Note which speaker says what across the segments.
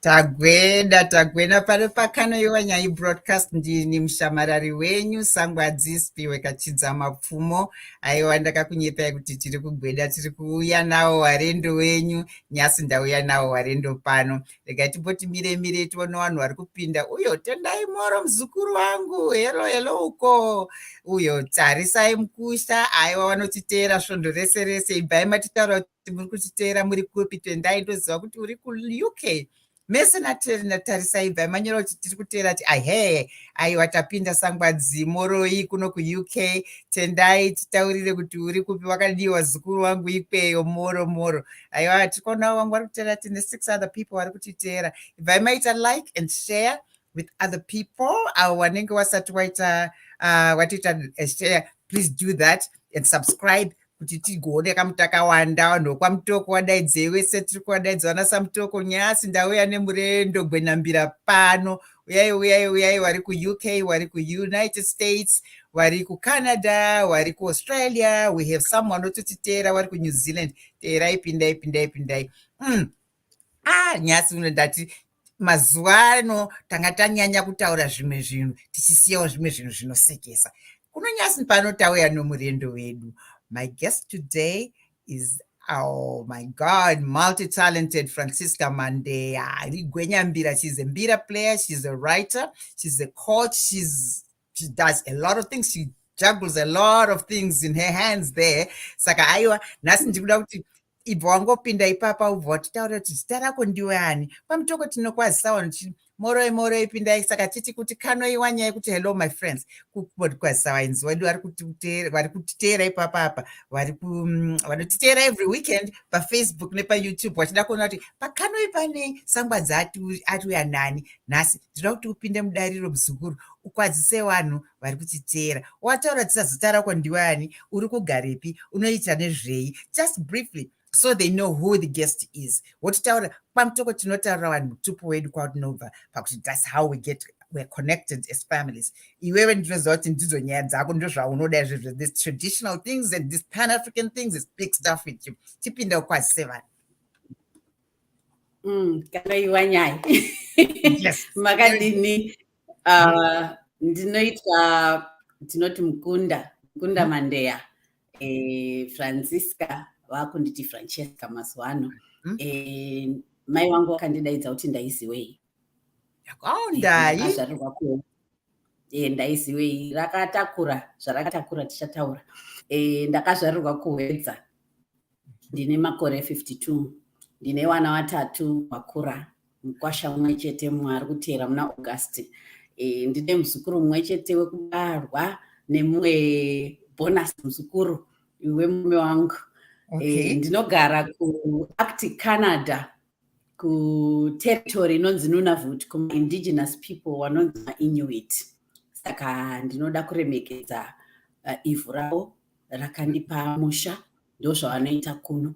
Speaker 1: Tagweda tagwena pari pakanoiwa nyai broadcast ndini mushamarari wenyu sangwadzispi wekachidza mapfumo aiwa ndakakunyepai kuti tiri kugweda tiri kuuya nawo warendo wenyu nyasi ndauya nawo warendo pano regai timboti mire mire tione vanhu vari kupinda uyo tendai moro muzukuru wangu helo helo uko uyo tarisai mukusha aiwa vanotiteera svondo rese rese ibvai matitaura kuti muri kutiteera muri kupi twendai ndoziva kuti uri kuuk mese natarisai bva manyora kuti tiri kuteera ti ahe aiwa tapinda sangwadzi moroi kuno kuuk tendai titaurire kuti uri kupi wakadii wazukuru wangu ikweyo moro moro aiwa tiri kuonawo wangu vari kuteera tine six other people vari kutiteera ibvai maita like and share with other people avo wanenge wasati waita uh, watoita uh, share please do that and subscribe kuti tigoone kamu takawanda vanhu vokwamutoko wadaidzei wese tiri kuwadaidza vana samutoko nyasi ndauya nemurendo gwenambira pano uyai uyai uyai wari kuuk wari kuunited states wari kucanada wari kuaustralia we have some wanototiteera wari kunew zealand teerai pindai pindai pindai mm. ah nyasi uno ndati mazuva ano tanga tanyanya kutaura zvimwe zvinhu tichisiyawo zvimwe zvinhu zvinosekesa kuno nyasi pano tauya nomurendo wedu my guest today is Oh my God, multi talented Francisca Mandeya. She's a mbira player, she's a writer, she's a coach, she's she does a lot of things she juggles a lot of things in her hands there saka aiwa nhasi ndikuda kuti ibva wangopinda ipapa ubva watitaura kuti zita rako ndiwe ani pamutoko tinokwazisa wanu ti moroi moroi pindai saka titi kuti kanoiwa nyaya yekuti hello my friends kukwazisa vainzi wedu vari kutiteera ipapa apa mm, vanotiteera every weekend pafacebook nepayoutube vachida kuona kuti pakanoi pane sangwadza atiuya nani nhasi ndinoda kuti upinde mudariro muzukuru ukwazise vanhu vari kutiteera wataura tisazita rako ndiwe ani uri kugarepi unoita nezvei just briefly so they know who the guest is wototaura kwamutoko tinotaurira vanhu mutupo wedu kwaunobva pakuti thats how we get we're connected as families iwewe ndinoziva kuti ndidzo nyaya dzako ndozvaunoda izvezvo this traditional things and this pan african things is big stuff with you tipinda ukwazise vanhu mm,
Speaker 2: kana iwa nyaya
Speaker 1: makadini
Speaker 2: Uh, ndinoitwa tinoti mukunda mukunda mm. mandeya e, francisca vakunditi francesca mazuva ano mm. e, mai vangu vakandidaidza kuti ndaiziwei yakawandai azvarirwa ku e, ndaiziwei rakatakura zvarakatakura tichataura e, ndakazvarirwa kuhwedza ndine makore 52 ndine wana watatu vakura mukwasha mumwe chete mumwe ari kuteera muna august e, ndine muzukuru mumwe chete wekubarwa nemumwe bonus muzukuru wemume wangu e, okay. e, ndinogara kuact canada kuterritory inonzi nunavut kumaindigenous people wanonzi mainuit saka ndinoda kuremekedza uh, ivhu ravo rakandipa musha ndozvavanoita kuno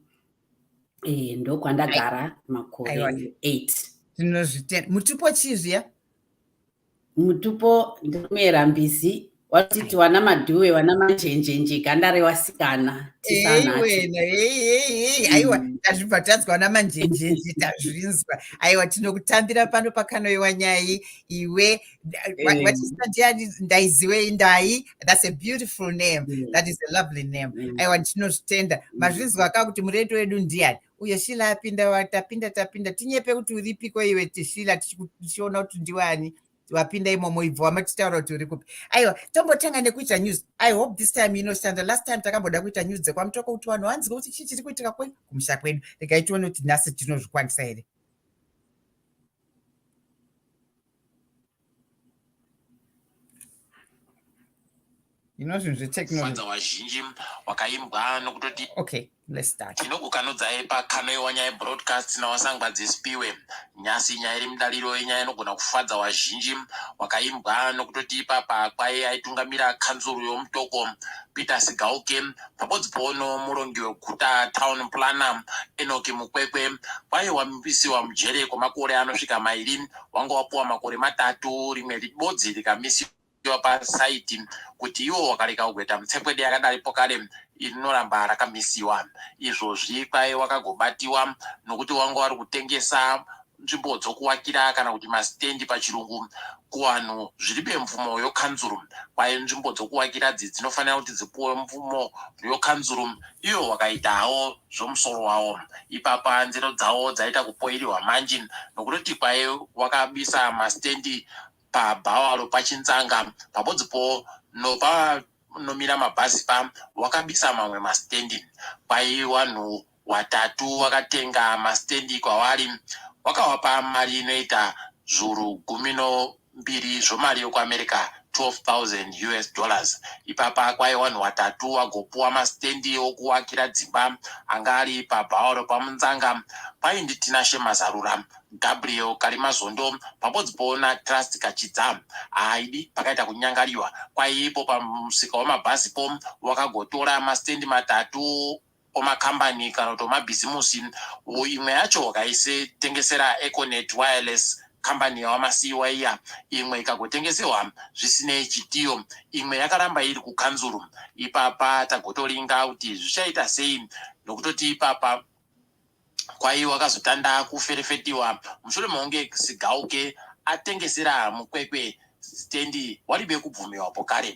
Speaker 2: eh, ndokwandagara makore 8 tinozvitenda mutupo chii
Speaker 1: zviya mutupo
Speaker 2: ndikumera mbizi watiti wana madhuwe wana manjenjenje ganda rewasikana aiwa mm.
Speaker 1: tazvibva tanzwa wana manjenjenje tazvinzwa aiwa tinokutambira pano pakanoiwa nyai iwe vachistadiya eh. ndaiziwei ndai thats a beautiful name mm. that is a lovely name mm. aiwa ndinozvitenda mm. mazvinzwa ka kuti mureto wedu ndiyani uyo shila apinda watapinda tapinda tinyepe kuti uripiko iwe tishila tichiona kuti ndiwani wapinda imomo ibvo wamatitaura kuti uri kupi aiwa tombotanga nekuita news i hope this time inoshanda last time takamboda kuita news dzekwamutoko kuti vanhu vanzike kuti chii chiri kuitika kwenyu kumusha kwedu regai tione kuti nhasi tinozvikwanisa here inozvinhu zvetechnology wazhinji
Speaker 3: wakaimbwa nokutoti okay let's start
Speaker 1: tinokukanudzai pakano
Speaker 3: yewanyaya broadcast nawasangwa dzispiwe nyasi nyaya iri mudariro yenyaya inogona kufadza wazhinji wakaimbwa nokutoti ipapa kwaye aitungamira kanzuru yomutoko peter sigauke pabodzi pono murongi weguta town planner enoki mukwekwe kwaye wamisiwa mujere kwemakore anosvika mairi wanga wapuwa makore matatu rimwe libodzi rikamisiwa pasaiti kuti iwo wakareka kugweta mutsekwede yakadaripo kare rinoramba rakamisiwa izvozvi kwaye wakagobatiwa nokuti wanga wari kutengesa nzvimbo dzokuwakira kana kuti masitendi pachirungu kuvanhu zviri bemvumo yokanzuru kwaye nzvimbo dzokuwakira dzi dzinofanira kuti dzipuwe mvumo yokanzuru iyo wakaitawo zvomusoro wawo ipapa nzero dzawo dzaita kupoiriwa manji nokutoti kwaye wakabisa masitendi pabhawalo pachinzanga pabodzipo nopa nomira mabhazi pa wakabisa mamwe masitendi kwai wanhu watatu wakatenga masitendi kwavari wakawapa mari inoita zvuru gumi no mbiri zvomari yokuamerica 12,000 us dollars ipapa kwaye wanhu watatu wagopuwa masitendi okuwakira dzimba anga ari pabhaoro pamunzanga paindi tinashe mazarura gabriel karimazondo pabodzipoona trust kachidza haaidi pakaita kunyangariwa kwaiipo pamusika wemabhazipo wakagotora masitendi matatu omakambani kana kuti omabhizimusi imwe yacho wakaitengesera econet wireless kambani yawamasiiwa iya imwe ikagotengesewa zvisinei chitiyo imwe yakaramba iri kukanzuru ipapa tagotoringa kuti zvichaita sei nokutoti ipapa Kwaiwa akazotanda kuferefetiwa mushure mokunge Sigauke atengesera Mukwekwe sitendi waribe kubvumiwa pokare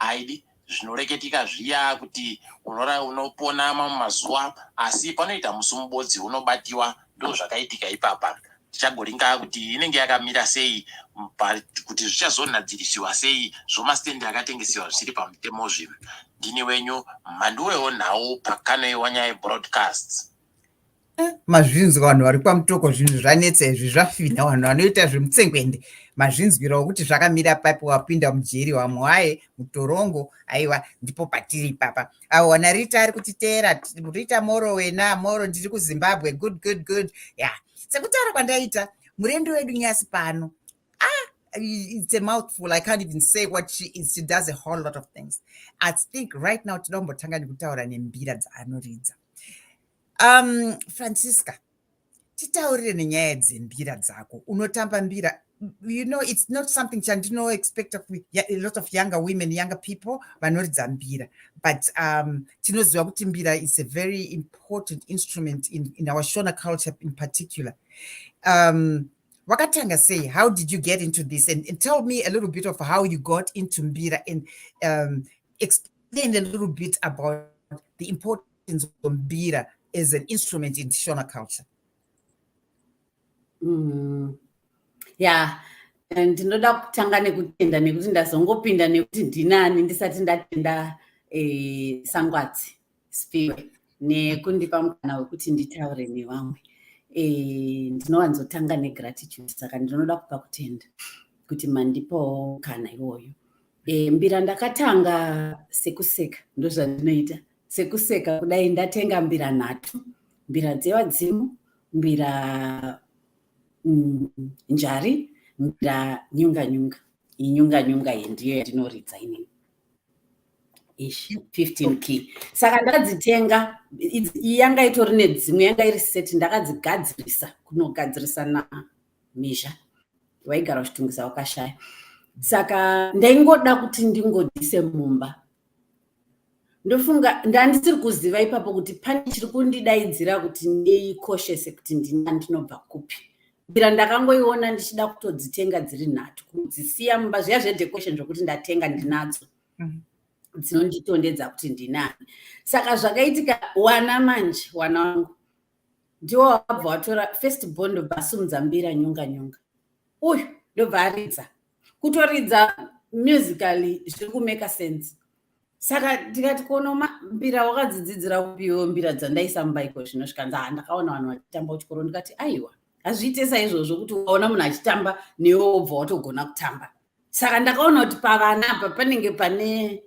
Speaker 3: aidi zvinoreketika zviya kuti unora unopona mamwe mazuva asi panoita musi mubodzi unobatiwa ndozvakaitika ipapa tichagoringa kuti inenge yakamira sei but kuti zvichazonadziriswa sei zvomastende akatengesewa zvisiri pamutemo zvinhu ndini wenyu mhandu weonhau pakano yewanya yebroadcasts eh,
Speaker 1: mazvinzwa vanhu vari kwamutoko zvinhu zvanetsa izvi zvafinha vanhu vanoita zvemutsengwende mazvinzwira wekuti zvakamira papi wapinda mujeri wamwaye mutorongo aiwa ndipo patiri ipapa aona rita ari kutiteera rita moro wena moro ndiri kuzimbabwe good good good ya yeah. sekutaura kwandaita murendo wedu nyasi pano ah it's a mouthful. I can't even say what she is. She does a whole lot of things. I think right now tinombotanga nekutaura nembira dzaanoridza. Um, Francisca, titaurire nenyaya dzembira dzako unotamba mbira you know it's not something chandinoexpecta a lot of younger women younger people vanoridza mbira but um, tinoziva kuti mbira is a very important instrument in, in our shona culture in particular um, wakatanga sei how did you get into this and, and tell me a little bit of how you got into mbira and um, explain a little bit about the importance inzwa mbira as an instrument in shona culture mm.
Speaker 2: yeah ndinoda kutanga nekutenda nekuti ndazongopinda nekuti ndinani ndisati ndatenda eh, sangwadzi spiwe nekundipa mukana wekuti nditaure nevamwe eh, ndinowanzotanga negratitude saka ndinoda kupa kutenda kuti mandipawo mukana iwoyo eh, mbira ndakatanga sekuseka ndozvandinoita sekuseka kudai ndatenga mbira nhatu mbira dzevadzimu mbira mm, njari mbira nyunga nyunga inyunga nyunga iyi ndiyo yatinoridza inini ishi 15 key saka ndakadzitenga yanga itori nedzimwe yanga iri seti ndakadzigadzirisa kunogadzirisa na mizha waigara uchitungisa wakashaya saka ndaingoda kuti ndingodise mumba ndofunga ndandisiri kuziva ipapo kuti pane chiri kundidaidzira kuti ndiikoshese kuti ndina ndinobva kupi mbira ndakangoiona ndichida kutodzitenga dziri nhatu kudzisiya mumba zviya zvedecoration zvokuti ndatenga ndinadzo mhm. dzinonditondedza kuti ndinani saka zvakaitika wana manje wana wangu ndiwo wabva watora first bond ndobva asumudza mbira nyonga nyonga uyu ndobva aridza kutoridza musically zviri kumeka sense saka ndikati kono mbira wakadzidzidzira kupiwo mbira dzandaisa mumbaiko zvino zvikanzi ha ndakaona vanhu vachitamba kuchikoro ndikati aiwa hazviite saizvozvo kuti ukaona munhu achitamba newe wobva watogona kutamba saka ndakaona kuti pavana apa panenge pane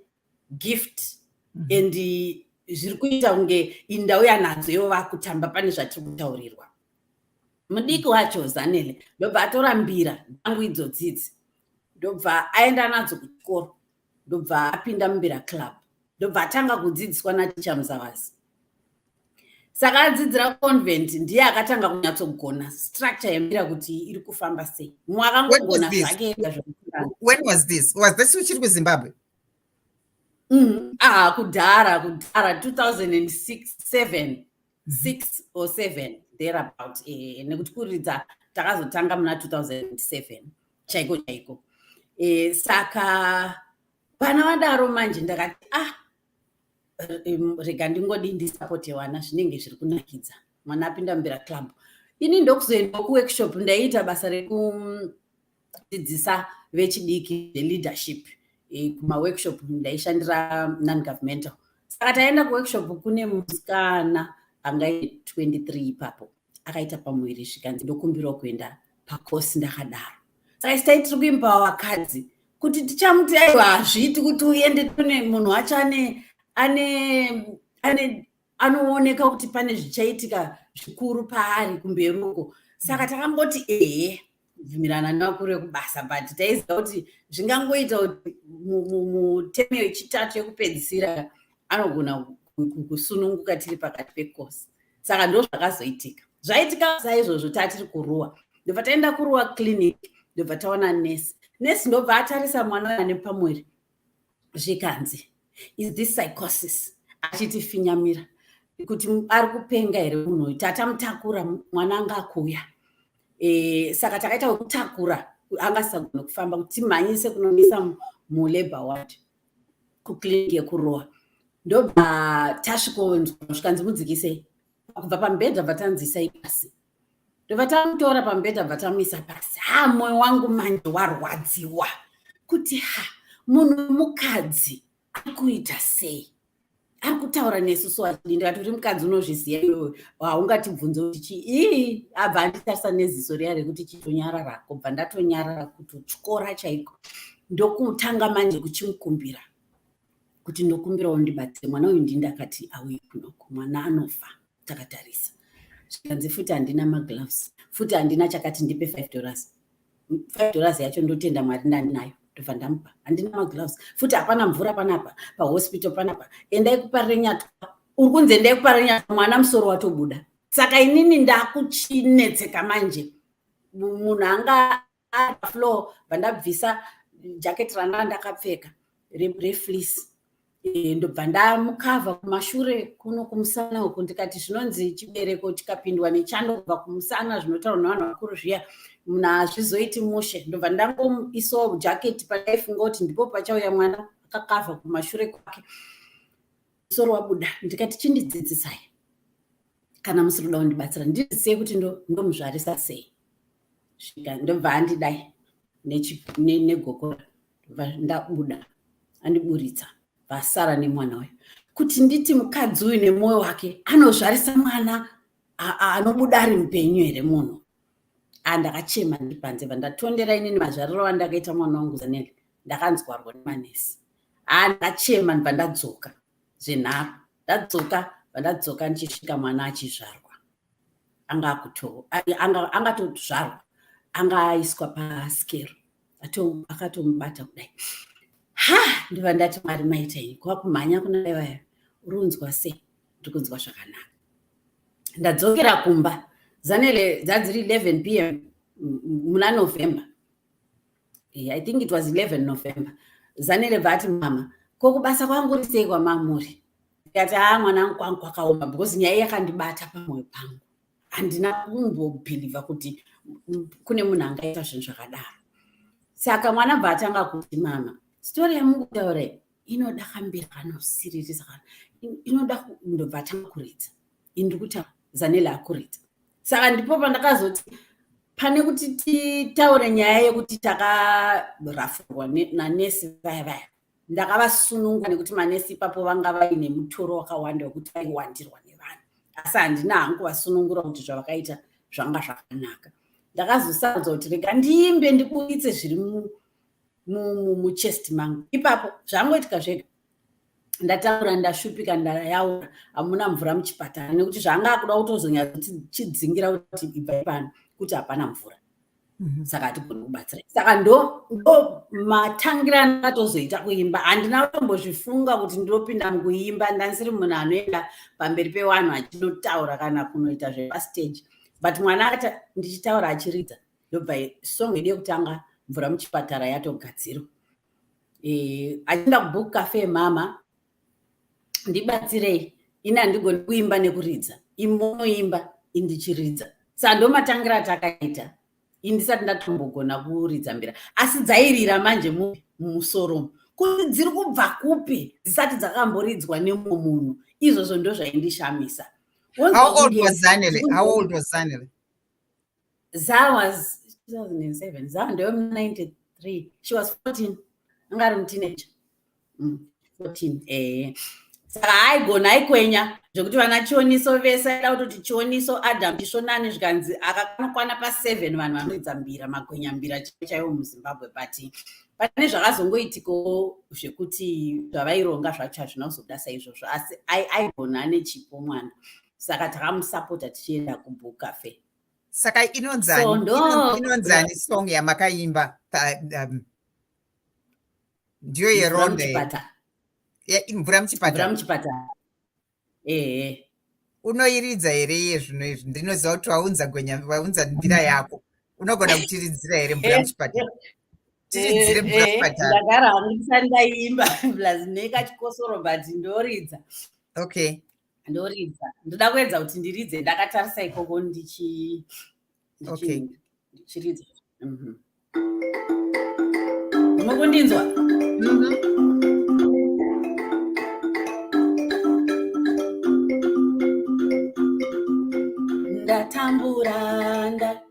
Speaker 2: gift mm -hmm. and zviri kuita kunge indau yanadzo ivo vakutamba pane zvatiri kutaurirwa mudiki wacho zanele ndobva atora mbira dzangu idzo dzidzi ndobva aenda nadzo kuchikoro ndobva apinda mumbira club ndobva atanga kudzidziswa naticha muzavazi saka adzidzira convent ndiye akatanga kunyatsogona structure yemira kuti iri kufamba sei mumwe akangogona zvake when was this
Speaker 1: was this uchiri kuzimbabwe mm-hmm. ah
Speaker 2: kudhara kudhara 2006 six or seven there about eh, nekuti kuridza takazotanga muna 2007 chaiko chaiko eh, saka pana vadaro manje ndakati ah rega ndingodi ndisapote vana zvinenge zviri kunakidza mwana apinda mumbira club ini ndokuzoendawo kuworkshop ndaiita basa rekudzidzisa vechidiki zveLeadership eh, kumaworkshop ndaishandira non-governmental saka taenda kuworkshop kune musikana angai 23 ipapo akaita pamuviri zvikanzi ndokumbirawo kuenda pakosi ndakadaro saka sitai tiri kuimba vakadzi kuti tichamuti aiwa hazviiti kuti uende tune munhu wacho ane ane ane anooneka kuti pane zvichaitika zvikuru paari kumberuko saka takamboti ehe kubvumirana nevakuru vekubasa but taiziva kuti zvingangoita kuti mutemo yechitatu yekupedzisira anogona kusununguka tiri pakati pekosi saka ndo zvakazoitika zvaitika saizvozvo taa tiri kuruwa ndobva taenda kuruwa clinic ndobva taona nesi nesi ndobva atarisa mwana ane pamwiri zvikanzi is this psychosis achitifinyamira kuti ari kupenga here munhu uyu tatamutakura mwana anga akuuya e, saka takaita wekutakura angasagona kufamba kuti timhanyise kunomisa mulabor ward kuclinic yekurowa ndobva tasvikonzwa zvikanzi mudzikisei kubva pamubhedha bva tanzisai pasi ndobva tamutora pamubhedha bva tamuisa pasi ha mwoyo wangu manje warwadziwa kuti ha munhu wemukadzi ari kuita sei ari kutaura nesu so achidi ndikati uri mukadzi unozviziva iwewe haungatibvunze kuti chii ii abva anditarisa neziso riya rekuti chitonyarara kobva ndatonyarara kuti tyora chaiko ndokutanga manje kuchimukumbira kuti ndokumbirawo ndibatsire mwana uyu ndindakati auye kunoku mwana anofa takatarisa zvikanzi futi handina magloves futi handina chakati ndipe five dollars five dollars yacho ndotenda mwari ndandinayo ndobva ndamupa handina magloves futi hapana mvura panapa pahospital panapa endai kuparenyatwa uri kunzi endai kuparenyatwa mwana musoro watobuda saka inini ndakuchinetseka manje munhu anga ari pafloor bvandabvisa jacket ranga ndakapfeka refleece eh, ndobva ndamukavha kumashure kuno kumusana uku ndikati zvinonzi chibereko chikapindwa nechando kubva kumusana zvinotaurwa nevanhu vakuru zviya munhu hazvizoiti mushe ndobva ndangoisawo jacket pandaifunga kuti ndipo pachauya mwana akakavha kumashure kwake musoro wabuda ndikati chindidzidzisai kana musiri kuda kundibatsira ndizisei kuti ndomuzvarisa sei ndosvika ndobva andidai negokora ndobva ndabuda andiburitsa vasara nemwana uyu kuti nditi mukadzi uyu nemwoyo wake anozvarisa mwana anobuda ari mupenyu here munhu andakachema ndiri panze bva ndatondera inini mazvariro andakaita mwana wangu zanele ndakanzwarwa nemanesi haa ndakachema ndibva ndadzoka zvenharo ndadzoka bva ndadzoka ndichisvika mwana achizvarwa angatozvarwa anga aiswa paskero akatomubata kudai ha ndiva ndati mwari maita iyi kwakumhanya kuna vaya uri unzwa sei ndiri kunzwa zvakanaka ndadzokera kumba zanele dzadziri 11 pm muna november eh, i think it was 11 november zanele vati mama ko kubasa kwangu uri sei kwamamuri ndikati haa mwana angu kwangu kwakaoma because nyaya yakandibata pamwoyo pangu handina kumbobhilivha kuti kune munhu angaita zvinhu zvakadaro saka mwana bva atanga kuti mama stori yamukutaura inoda kambira kana usiririsa kana inoda ndobva atanga kuridza ini ndiri kutaura zanele akurita saka ndipo pandakazoti pane kuti titaure nyaya yekuti takarafurwa nanesi vaya vaya ndakavasununga nekuti manesi ipapo vanga vaine mutoro wakawanda wekuti vaiwandirwa nevanhu asi handina hangu vasunungura kuti zvavakaita zvanga zvakanaka ndakazosanzwa kuti rega ndiimbe ndiburitse zviri muchest mangu ipapo zvangoitika zvega ndataura ndashupika ndayaura hamuna mvura muchipatara nekuti zvaanga akuda kutozonyatsochidzingira kuti ibvai pano kuti hapana mvura mhm. saka hatigoni kubatsira saka ndo ndo matangirano atozoita kuimba handina kutombozvifunga kuti ndinopinda mukuimba ndanisiri munhu anoenda pamberi pevanhu achinotaura kana kunoita zvepastage but mwana ati ndichitaura achiridza ndobva song yedu yekutanga mvura muchipatara yatogadzirwa eh, achinda kubook cafe mama ndibatsirei ini handigoni kuimba nekuridza imonoimba indichiridza saa ndomatangira atakaita indisati ndatombogona kuridza mbira asi dzairira manje mupi mumusoro kuti dziri kubva kupi dzisati dzakamboridzwa nemumwe munhu izvozvo ndozvaindishamisa How old
Speaker 1: was Zanele? How old was Zanele?
Speaker 2: za was 2007 za ndewe 93 she was 14 anga ari muteenager mm, 14 eh saka haigona aikwenya zvekuti vana chioniso vese aida kutoti chioniso adam chisvonani zvikanzi akakanokwana paseven vanhu vanoidza mbira magwenya mbira chaivo chaivo muzimbabwe but pane zvakazongoitikawo zvekuti zvavaironga zvacho hazvina kuzobuda saizvozvo asi aigona ane chipo mwana saka takamusapota tichienda kubook cafe saka
Speaker 1: inonzaniinonzani song yamakaimba um, ndiyo yeronde mvura muchipatara muchipatara ehe unoiridza here iye zvino izvi ndinoziva kuti waunza gwenya waunza ndira mm. yako unogona kutiridzira here mvura eh, muchipatara eh, tiridzire mvura eh, muchipatara ndagara hangu ndisati
Speaker 2: ndaimba plus nekachikosoro but ndoridza okay
Speaker 1: ndoridza
Speaker 2: ndoda kuedza kuti ndiridze ndakatarisa ikoko ndichiridza mhm. mukundinzwa ndatambura nda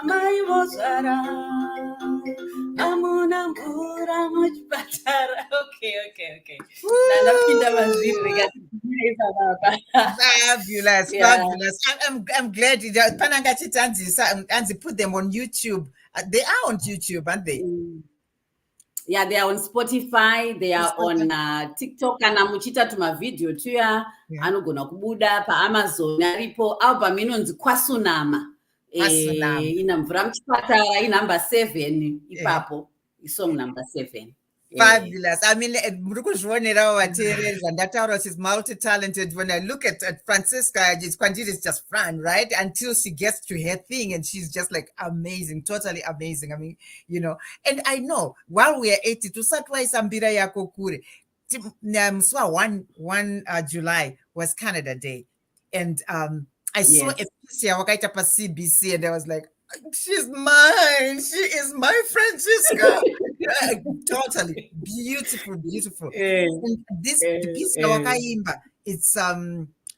Speaker 2: amai vozvara amuna mvura muchipatara okay okay okay ndandapinda
Speaker 1: mazviri rekaifababafabulous fabulous i'm, I'm glad pananga chitanzisa anzi put them on youtube uh, they are on youtube aren't they mm.
Speaker 2: yeah they are on spotify they are on uh, tiktok kana muchiita tumavhidhiyo tuya yeah. anogona kubuda paamazon aripo album inonzi kwasunama eh, ina mvura muchipatara inumber seven eh. ipapo yeah. isong number seven eh. Fabulous. I
Speaker 1: mean, eh, muri kuzvionerawo vateereri zvandataura she's multi-talented. When I look at, at Francisca, it's kwandiri is just fun, right? Until she gets to her thing and she's just like amazing, totally amazing. I mean, you know and i know while we are 80 tusati waisa mbira yako kure musi wa 1 uh, july was canada day and um, i yes. saw a piece yawakaita pacbc and i was like she's mine. She is my Francisca. totally beautiful, beautiful. Hey, eh, and this hey, eh, piece hey. Eh. Wakaimba, it's um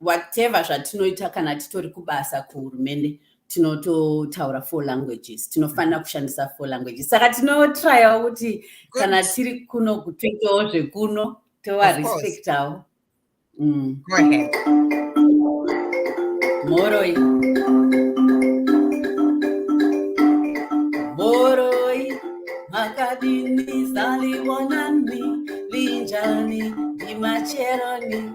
Speaker 2: whatever zvatinoita kana titori kubasa kuhurumende tinototaura four languages tinofanira mm-hmm. kushandisa four languages saka tinotryawo kuti kana tiri kuno kutoitawo zvekuno tovarespectawo mm. mhoroi mhoroi makadini zaliwonani linjani ndimacheroni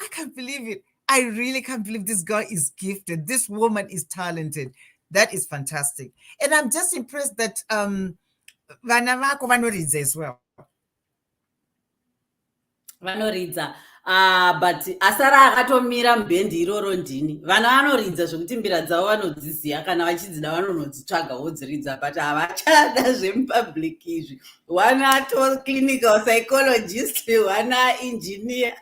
Speaker 1: I can't believe it. I really can't believe this girl is gifted. This woman is talented. That is fantastic. And I'm just impressed that um vana vako vanoridza as well.
Speaker 2: Vanoridza. Ah, but asara akatomira mubhendi iroro ndini vana vanoridza zvekuti mbira dzavo vanodziziva kana vachidzida vanonodzitsvaga wodziridza but havachada zvemupublic izvi wana to clinical psychologist wana engineer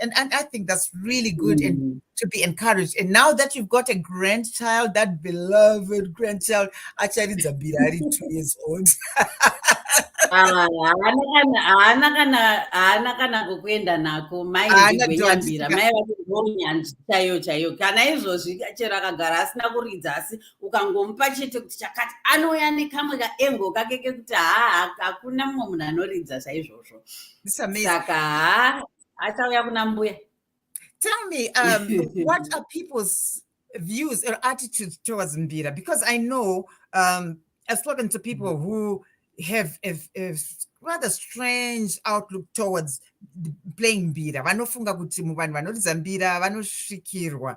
Speaker 1: and, and i think that's really good mm. and mm-hmm. to be encouraged and now that you've got a grandchild that beloved grandchild actually it's a birari two years old
Speaker 2: ah, haana kana kokuenda nako mai igwenyambira mai vaonyanzvi chaiyo chaiyo kana izvozvi chero akagara asina kuridza asi ukangomupa chete kuti chakati anouya nekamwe kaengo kake kekuti haa hakuna mumwe munhu anoridza chaizvozvo saka haa achauya kuna mbuya tell me
Speaker 1: um, what are people's views or attitudes towards mbira because i know um, i've spoken to people mm-hmm. who have a, a rather strange outlook towards playing mbira vanofunga kuti muvanhu vanoridza mbira vanosvikirwa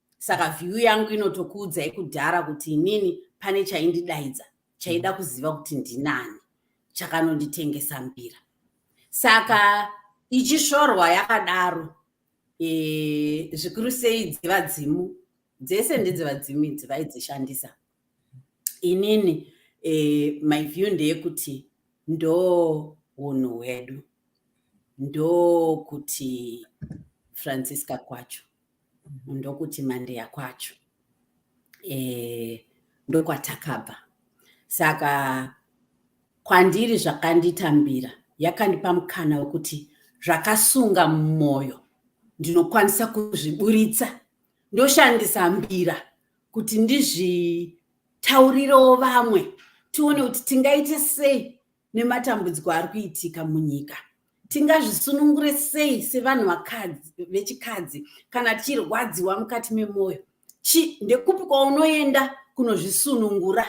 Speaker 2: saka view yangu inotokuudzai kudhara kuti inini pane chaindidaidza chaida mm. kuziva kuti ndinani chakanonditengesa mbira saka ichisvorwa yakadaro e, zvikuru sei dzevadzimu dzese ndedzevadzimu idzi vaidzishandisa inini e, my view ndeyekuti ndo unhu hwedu ndokuti francisca kwacho ndokuti mandeya kwacho e, ndokwatakabva saka kwandiri zvakanditambira yakandipa mukana wekuti zvakasunga mumwoyo ndinokwanisa kuzviburitsa ndoshandisa mbira kuti ndizvitaurirewo vamwe tione kuti tingaite sei nematambudziko ari kuitika munyika tingazvisunungure sei sevanhu vakadzi vechikadzi kana tichirwadziwa mukati memwoyo chi ndekupi kwaunoenda kunozvisunungura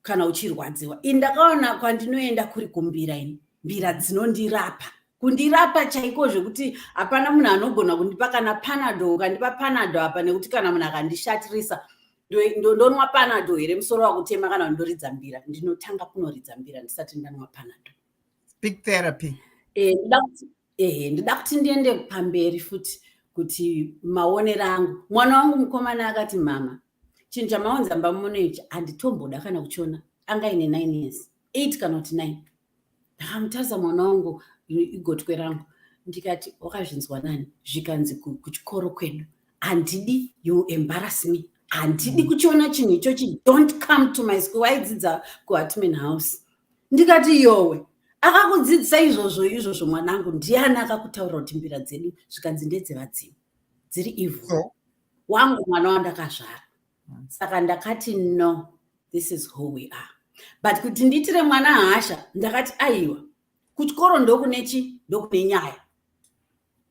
Speaker 2: kana uchirwadziwa ini ndakaona kwandinoenda kuri kumbira ini mbira dzinondirapa kundirapa chaiko zvekuti hapana munhu anogona kundipa kana panado ukandipa panado apa nekuti kana munhu akandishatirisa ndonwa panado here musoro wakutema kana kuti ndoridza mbira ndinotanga kunoridza mbira ndisati ndanwa panado big therapy eh, ehe ndida kuti ndiende pamberi futi kuti maonero angu mwana wangu mukomana akati mama chinhu chamaonza mbamuno ichi handitomboda kana kuchiona anga ine nine years eight kana kuti nine ndakamutarisa mwana wangu igotwe rangu ndikati wakazvinzwa nani zvikanzi kuchikoro kwedu handidi you embarrass me handidi mm. kuchiona chinhu ichochi don't come to my school waidzidza kuhatman house ndikati yowe akakudzidzisa izvozvo izvozvo mwanangu ndiani akakutaurira kuti mbira dzedu zvikanzi ndedzevadzimu dziri evil wangu mwana wandakazvara saka ndakati no this is who we are but kuti ndiitire mwana hasha ndakati aiwa kuchikoro ndokune chi ndokune nyaya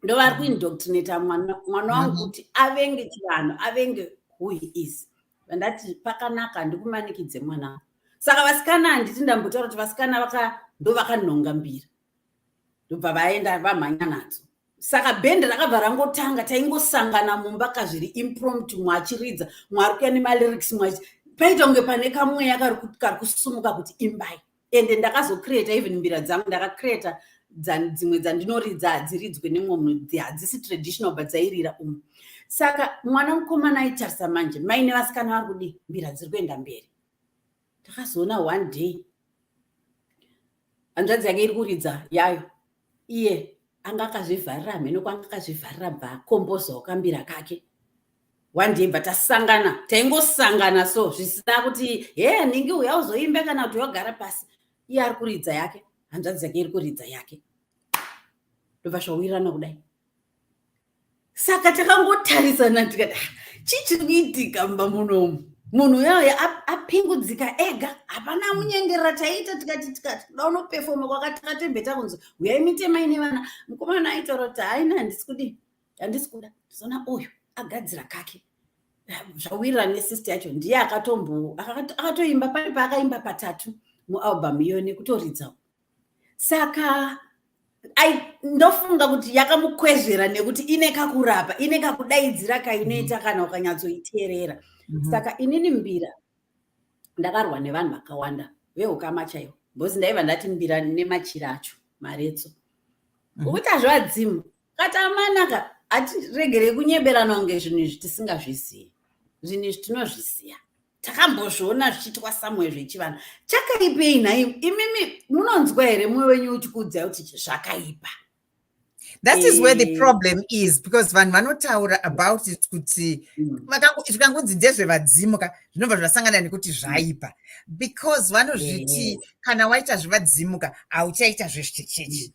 Speaker 2: ndovari kuindoctrinata mwana wangu kuti avenge chivanhu avenge who he is vandati pakanaka ndikumanikidze mwana saka vasikana handiti ndambotaura kuti vasikana ndo vakanhonga mbira ndobva vaenda vamhanya nadzo saka bhende rakabva rangotanga taingosangana mumba kazviri imprompt mwachiridza mwari kuya nemalyrics mwachi paita kunge pane kamweya kari kusumuka kuti imbai ende ndakazocreata even mbira dzangu ndakacreata dzimwe dzandinoridza hadziridzwe nemwe munhu hadzisi traditional but dzairira umu saka mwana mukomana aitarisa manje maine vasikana vari kudii mbira dziri kuenda mberi takazoona one day hanzvadzi yake iri kuridza yayo iye anga akazvivharira hameno kwanga akazvivharira bva akomboza wakambira kake one day bva tasangana taingosangana so zvisina kuti he ningi uya uzoimba kana kuti wagara pasi iye ari kuridza yake hanzvadzi yake iri kuridza yake ndobva zvawirirana kudai saka takangotarisana tikati ah, chii chiri kuitika mumba munomu munhu uyoyo apingudzika ega hapana amunyengerera taiita tikati tikati kuda unopefoma kwakatakatembeta kunzi huyai mitema ine vana mukomana aitaura kuti haina handisi kudi handisi kuda zona uyu agadzira kake zvawirira nesist yacho ndiye akatombo akatoimba pane paakaimba patatu mualbum iyo nekutoridzawo saka ndofunga kuti yakamukwezvera nekuti ine kakurapa ine kakudaidzira kainoita mm-hmm. kana ukanyatsoiteerera mm-hmm. saka inini mbira ndakarwa nevanhu vakawanda veukama chaivo bcoz ndaiva ndati mbira nemachira acho maretso mm-hmm. ukuti azvivadzimu katamanaka hatiregerei kunyeberanwa kunge zvinhu izvi tisingazvizivi zvinhu izvi tinozviziva takambozviona zvichiitwa samwe zvechivanhu chakaipei nhai imimi munonzwa here mwe wenyu uchikuudzai kuti zvakaipa
Speaker 1: that is where the eh. problem is because vanhu vanotaura about it kuti mm. zvikangonzi ndezvevadzimu ka zvinobva zvasangana nekuti mm. zvaipa because vanozviti eh. kana waita zvevadzimu ka hauchaita zvezvechechi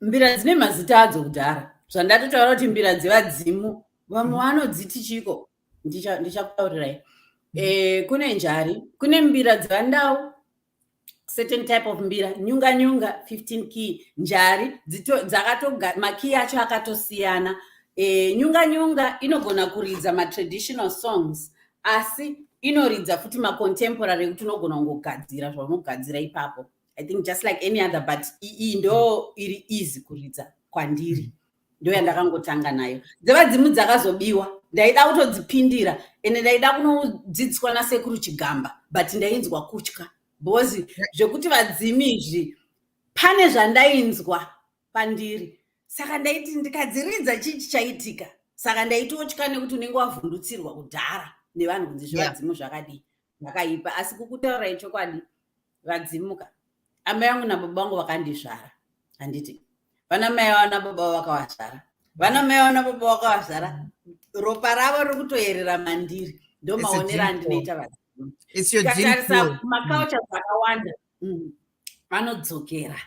Speaker 2: mbira dzine mazita adzo kudhara zvandatotaura kuti mbira dzevadzimu vamwe mm. vanodziti chiko ndichakutaurirai mm. eh, kune njari kune mbira dzevandau certain type of mbira nyunga nyunga 15 key njari dzakatomakiyi acho akatosiyana eh, nyunga nyunga inogona kuridza matraditional songs asi inoridza futi macontemporary ekuti unogona kungogadzira zvaunogadzira ipapo i think just like any other but iyi ndo iri easy kuridza kwandiri ndo yandakangotanga nayo dzevadzimu dzakazobiwa ndaida kutodzipindira ende ndaida kunodzidziswa nasekuru chigamba but ndainzwa kutya because zvekuti vadzimi izvi pane zvandainzwa pandiri saka ndaiti ndikadziridza chii chichaitika saka ndaitotya nekuti unenge wavhundutsirwa kudhara nevanhu kunzi zvevadzimu zvakadii zvakaipa asi kukutaura ichokwadi vadzimuka amai vangu nababa vangu vakandizvara handiti vana mai vavo nababa vavo vakavazvara vana mai vavo nababa vakavazvara ropa ravo riri kutoyerera mandiri ndomaonera andinoita vadzimu tikatarisa makaucha zvakawanda mm. vanodzokera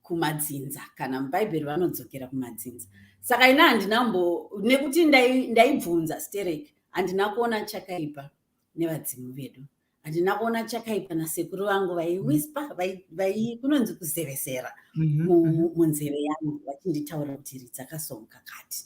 Speaker 2: kumadzinza kana mubhaibheri vanodzokera kumadzinza saka ina handina mbo nekuti ndaibvunza ndai sterek handina kuona chakaipa nevadzimu vedu handina kuona chakaipa nasekuru vangu vaiwispa vai kunonzi kuzevesera mhm, mhm. munzeve yangu vachinditaura kuti ri dzakasonga kati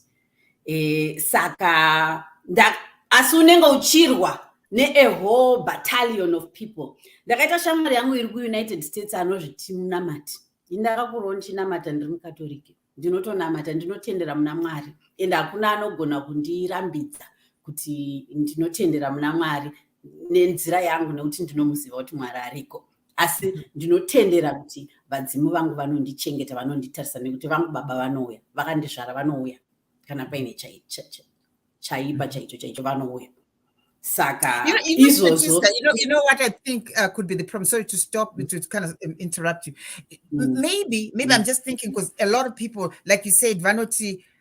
Speaker 2: e, saka nda, asi unenge uchirwa ne-a whole battalion of people ndakaita shamwari yangu iri kuunited states anozviti munamati indakakuroo ndichinamata ndiri mukatoriki ndinotonamata ndinotendera muna mwari and hakuna anogona kundirambidza kuti ndinotendera muna mwari nenzira yangu nekuti ndinomuziva kuti mwari ariko asi mhm. ndinotendera kuti vadzimu vangu vanondichengeta vanonditarisa nekuti vangu baba vanouya vakandizvara vanouya kana paine chaipa mhm. chaicho chaicho vanouya saka izvozvo
Speaker 1: you know what i think uh, could be the problem sorry to stop mm. to kind of um, interrupt you mm. maybe maybe mm. i'm just thinking because a lot of people like you said vanoti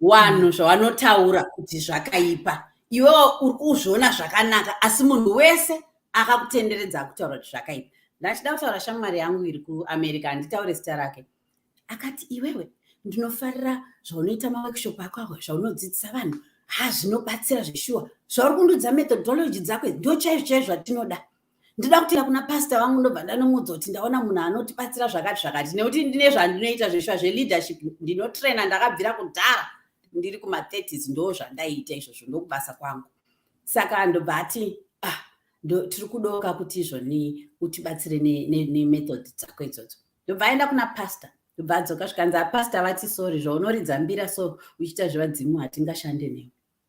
Speaker 2: wanhu mm. zvavanotaura kuti zvakaipa iwe uri kuzviona zvakanaka asi munhu wese akakutenderedza akutaura kuti zvakaipa ndachida kutaura shamwari yangu iri kuamerica handitaure zita rake akati iwewe ndinofarira zvaunoita maworkshop ako awa zvaunodzidzisa vanhu ha zvinobatsira zveshuwa zvauri kundudza methodology dzako ndo chaizvo chaizvo zvatinoda ndinoda kutenda kuna pasta vangu ndobva ndanomuudza kuti ndaona munhu anotibatsira zvakati zvakati nekuti ndine zvandinoita zveshuwa zveleadership ndinotraina ndakabvira kudhara ndiri kuma30s ndo zvandaiita izvozvo ndokubasa kwangu saka ndobva ati ah tiri kudoka kuti izvoni utibatsire nemethod ne, ne dzako idzodzo ndobva aenda kuna pasta ndobva adzoka zvikanzi apasta vati sori zvaunoridza mbira so uchiita zvevadzimu hatingashande newe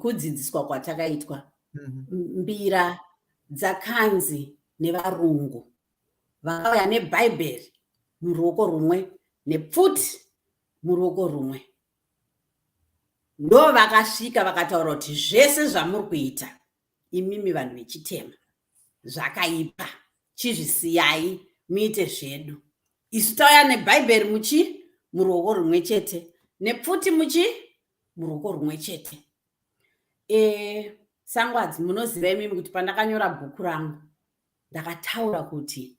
Speaker 2: kudzidziswa kwatakaitwa mhm. mbira dzakanzi nevarungu vakauya nebhaibheri muruoko rumwe nepfuti muruoko rumwe ndo vakasvika vakataura kuti zvese zvamuri kuita imimi vanhu vechitema zvakaipa chizvisiyai muite zvedu isu tauya nebhaibheri muchi muruoko rumwe chete nepfuti muchi muruoko rumwe chete e, sangwadzi munoziva imimi kuti pandakanyora bhuku rangu ndakataura kuti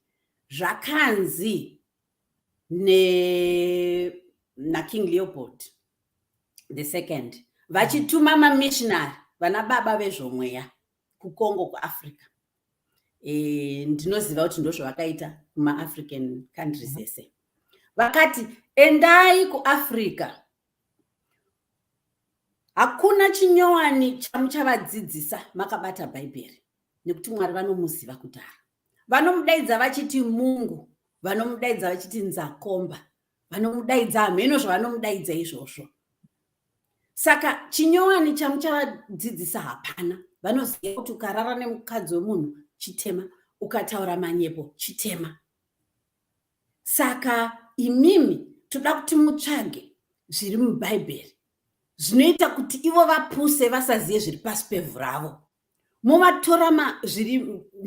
Speaker 2: zvakanzi ne naking leopold the second vachituma mamishinari vana baba vezvomweya kucongo kuafrica e, ndinoziva kuti ndozvavakaita kumaafrican countries mhm. ese vakati endai kuafrica hakuna chinyowani chamuchavadzidzisa makabata bhaibheri nekuti mwari vanomuziva kudhara vanomudaidza vachiti mungu vanomudaidza vachiti nzakomba vanomudaidza hameno zvavanomudaidza izvozvo saka chinyowani chamuchavadzidzisa hapana vanoziva kuti ukarara nemukadzi wemunhu chitema ukataura manyepo chitema Saka imimi toda kuti mutsvage zviri mubhaibheri zvinoita kuti ivo vapuse vasazive zviri pasi pevhu ravo movatora zviri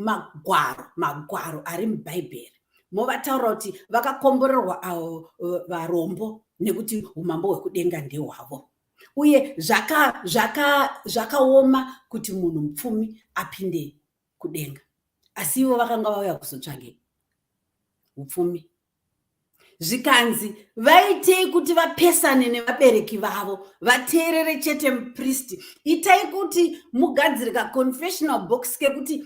Speaker 2: magwaro magwaro ari mubhaibheri movataura kuti vakakomborerwa avo eh, varombo nekuti umambo hwekudenga ndehwavo uye zvakaoma kuti munhu mupfumi apinde kudenga asi ivo vakanga vauya kuzotsvage upfumi zvikanzi vaitei kuti vapesane nevabereki vavo vateerere chete mupristi itai kuti mugadzire kaconfessional box kekuti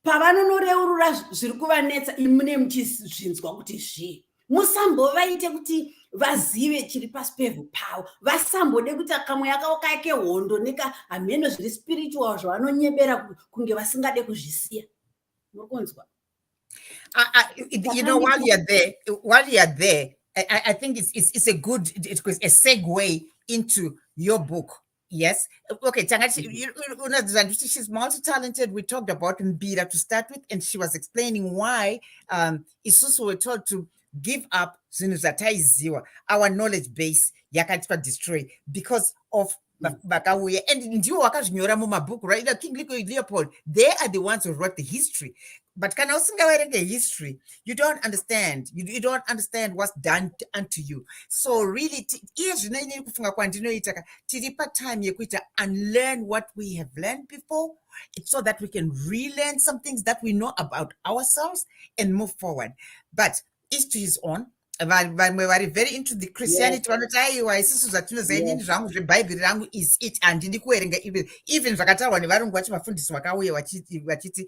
Speaker 2: pavanonoreurura zviri kuvanetsa imune muchizvinzwa kuti zvii musambovaite kuti vazive chiri pasi pevhu pavo vasambode kuti kamwe yakaoka yake hondo neka hameno zviri spiritual zvavanonyebera kunge vasingade kuzvisiya muri kunzwa Uh,
Speaker 1: uh, you know, while you're there, while you're there, I, I think it's, it's, it's a good it's a segue into your book, Yes. Okay, Changachi, mm-hmm. you, you know, she's multi-talented. We talked about Mbira to start with, and she was explaining why um, Isusu were told to give up zvinhu zvataiziwa our knowledge base yakaitwa destroy because of mm. vakauya and ndiwo wakazvinyora mumabhuku right like king leopold they are the ones who wrote the history but kana usingaverenge history you don't understand you, you don't understand what's done unto you so really iye zvino inini kufunga kwandinoita ka tiri patime yekuita unlearn what we have learned before so that we can relearn some things that we know about ourselves and move forward but each to his own vamwe vari very into the christianity vanoti aiwa isisu zvatinoza inini zvangu zvebhaibheri rangu is it handidi kuverenga even zvakataurwa nevarungu vacho vafundisi vakauya vachiti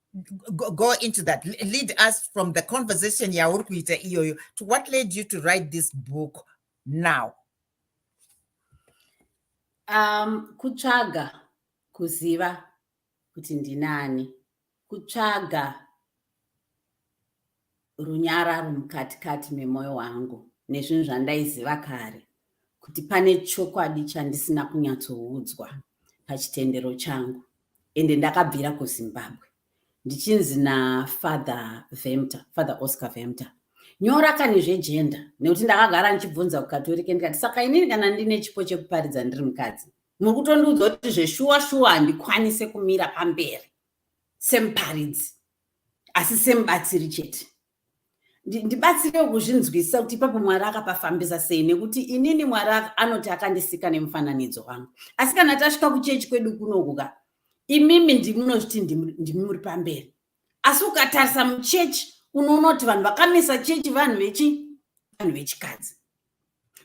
Speaker 1: go, go into that lead us from the conversation yauri kuita iyoyo to what led you to write this book now
Speaker 2: um kutsvaga kuziva kuti ndinani kutsvaga runyararo mukati kati memoyo wangu nezvinhu zvandaiziva kare kuti pane chokwadi chandisina kunyatsoudzwa pachitendero changu ende ndakabvira kuzimbabwe ndichinzi nafather vemter father oscar vemter nyora kani zvejenda nekuti ndakagara ndichibvunza kukatorike ndikati saka inini kana ndine chipo chekuparidza ndiri mukadzi muri kutondiudza kuti zveshuwa shuwa handikwanise kumira pamberi semuparidzi asi semubatsiri chete ndibatsirewo kuzvinzwisisa kuti ipapo mwari akapafambisa sei nekuti inini mwari anoti akandisika nemufananidzo wangu asi kana tasvika kuchechi kwedu kunokuka imimi ndimunozviti ndimi muri pamberi asi ukatarisa muchechi unoona kuti vanhu vakamisa chechi vanhu vechi vanhu vechikadzi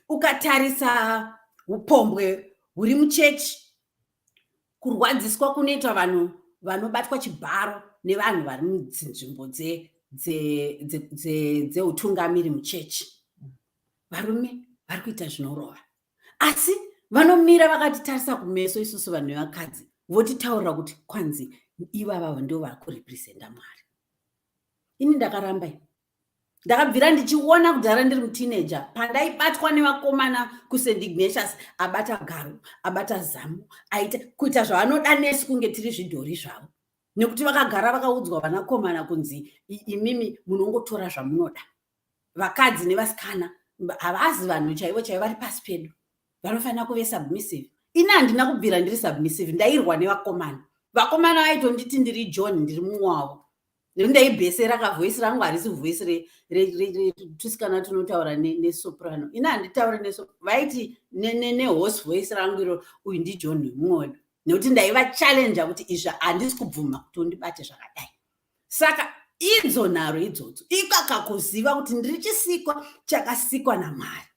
Speaker 2: ukatarisa upombwe huri muchechi Kurwadziswa kunoitwa vanhu vanobatwa chibharo nevanhu vari mudzinzvimbo dzeutungamiri muchechi varume vari kuita zvinorova asi vanomira vakatitarisa kumeso isusu vanhu vevakadzi votitaurira kuti kwanzi ivavavo ndo vari kurepresenta mwari ini ndakaramba ndakabvira ndichiona kudhara ndiri mutineja pandaibatwa nevakomana kusendignatius abata garo abata zamu aita kuita zvaanoda nesu kunge tiri zvidhori zvavo nekuti vakagara vakaudzwa vanakomana kunzi imimi munongotora zvamunoda vakadzi nevasikana havazi vanhu chaivo chaivo vari pasi pedu vanofanira kuve submissive ini handina kubvira ndiri submissive ndairwa nevakomana vakomana vaitonditi ndiri john ndiri mumwe wavo rindai bese raka voice rangu harisi voice retusikana tunotaura nesoprano ini handitaure neso vaiti nehorse voice rangu iro uyu ndijohn mwoyo nekuti ndaivachallenja kuti izvi handisi kubvuma kuti undibate zvakadai saka idzo nharo idzodzo ikakakuziva kuti ndiri chisikwa chakasikwa namwari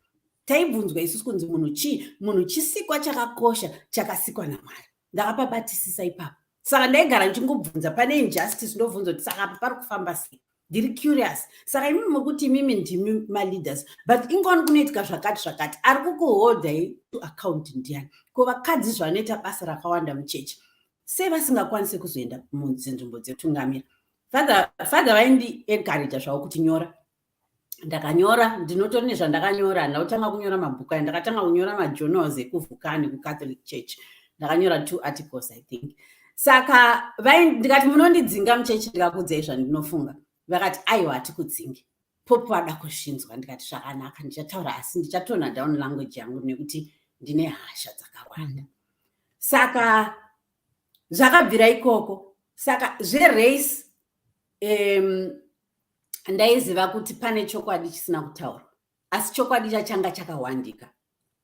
Speaker 2: taibvunzwa isusu kunzi munhu chii munhu chisikwa chakakosha chakasikwa namwari ndakapabatisisa ipapo saka ndaigara ndichingobvunza pane injustice ndobvunza kuti saka apa pari kufamba sei ndiri curious saka imimi mokuti imimi ndimi maleaders but ingoni kunoitika zvakati zvakati ari kukuholdai to account ndiani ko vakadzi zvavanoita basa rakawanda muchechi sei vasingakwanise kuzoenda mudzinzvimbo dzetungamira father vaindi encouraja zvavo kuti nyora ndakanyora ndinotori nezvandakanyora handina kutanga kunyora mabhuku aya ndakatanga kunyora majournals ekuvhukani kucatholic church ndakanyora two articles i think saka ndikati munondidzinga muchechi ndikakudzai zvandinofunga vakati aiwa hatikudzingi popo vada kuzvinzwa ndikati zvakanaka ndichataura asi ndichatona down language yangu nekuti ndine hasha dzakawanda saka zvakabvira ikoko saka zverace um, ndaiziva kuti pane chokwadi chisina kutaurwa asi chokwadi chachanga chakawandika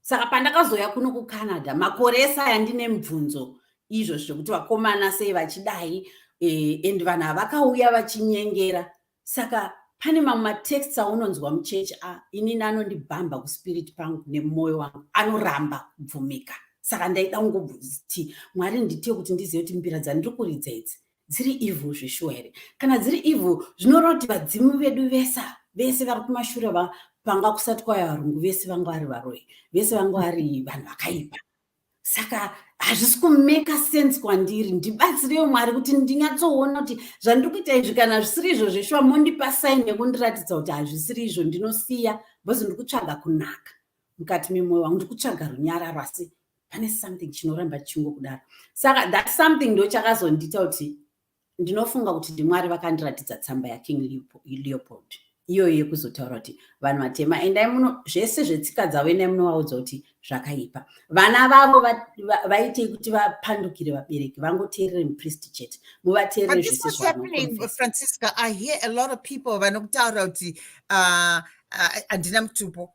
Speaker 2: saka pandakazouya kuno kucanada makore esaya ndine mibvunzo izvo zvekuti vakomana sei vachidai e, and vanhu havakauya vachinyengera saka pane mamwe matexts aunonzwa muchechi a inini anondibhamba kuspirit pangu nemumwoyo wangu anoramba kubvumika saka ndaida kungobvunziti mwari nditie kuti ndizive kuti mbira dzandiri kuridza idzi dziri evil zveshuwa here kana dziri evil zvinoreva kuti vadzimu vedu vesa vese vari kumashure vapanga kusati kwaya varungu vese vanga vari varoyi vese vanga vari vanhu vakaipa saka hazvisi kumeka sense kwandiri ndibatsireyo mwari kuti ndinyatsoona kuti zvandiri kuita izvi kana zvisiri izvo zveshuwa mondipa saini yekundiratidza kuti hazvisiri izvo ndinosiya bcoz ndiri kutsvaga kunaka mukati memoyo wangu ndiri kutsvaga runyararo asi pane something chinoramba chingo kudaro saka that something ndo chakazondiita kuti ndinofunga kuti ndimwari vakandiratidza tsamba yaking leopold iyoyo yekuzotaura kuti vanhu vatema endai muno zvese zvetsika dzavo endai munovaudza kuti zvakaipa vana vavo vaitei kuti vapandukire vabereki vangoteerere mupristi chete muvateerere zvese
Speaker 1: zvaanofrancisca i hear a lot of people vanokutaura kuti uh, uh, handina mutupo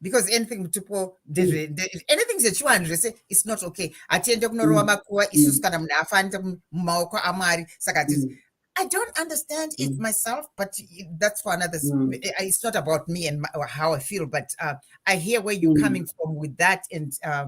Speaker 1: because anything mutupo ndezve mm. anything zvechiwanhu zvese its not okay hatiende kunorowa mm. makuva mm. isusu kana munhu afanira mumaoko amwari saka hatizi I don't understand it mm. myself, but that's for another. Mm. Eh, eh, it's not about me and my, how I feel, but uh, I hear where you're mm. coming from with that, and uh,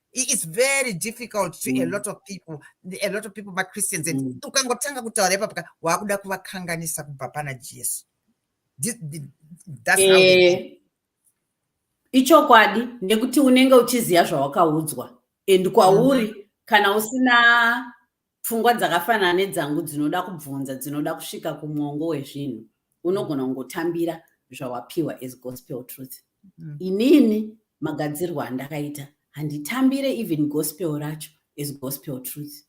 Speaker 1: it's very difficult to mm. a lot of people a lot of people vachristians and mm. ukangotanga kutaura ipapo ka waakuda kuvakanganisa kubva pana jesu eh,
Speaker 2: ichokwadi nekuti unenge uchiziva zvawakaudzwa and kwauri mm. kana usina pfungwa dzakafanana nedzangu dzinoda kubvunza dzinoda kusvika kumwongo wezvinhu unogona kungotambira zvawapiwa as gospel truth mm. inini magadzirwo andakaita handitambire even gospel racho as gospel truth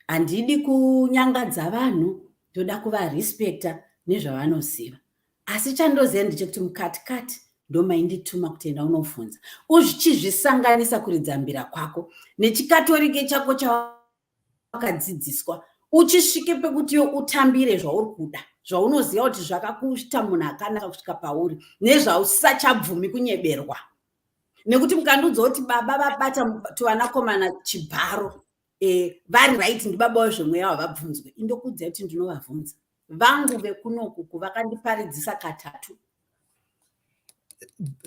Speaker 2: handidi kunyangadza vanhu ndoda kuvarespecta nezvavanoziva asi chandoziva ndechekuti mukati kati ndomaindituma kuti enda unovhunza uzvichizvisanganisa kuridza mbira kwako nechikatorike chako chawakadzidziswa uchisvike pekuti yo utambire zvauri kuda zvaunoziva kuti zvakakuita munhu akanaka kusvika pauri nezvausachabvumi kunyeberwa nekuti mukandiudza kuti baba vabata tuvanakomana chibharo eh, vari right ndibaba wezvemweya wavabvunzwe indokuudzai kuti ndinovavhunza vangu vekunokuku vakandiparidzisa katatu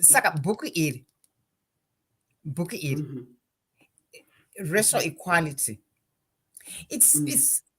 Speaker 1: saka bhuku iri bhuku iri mm -hmm. racial equality it's, mm -hmm. it's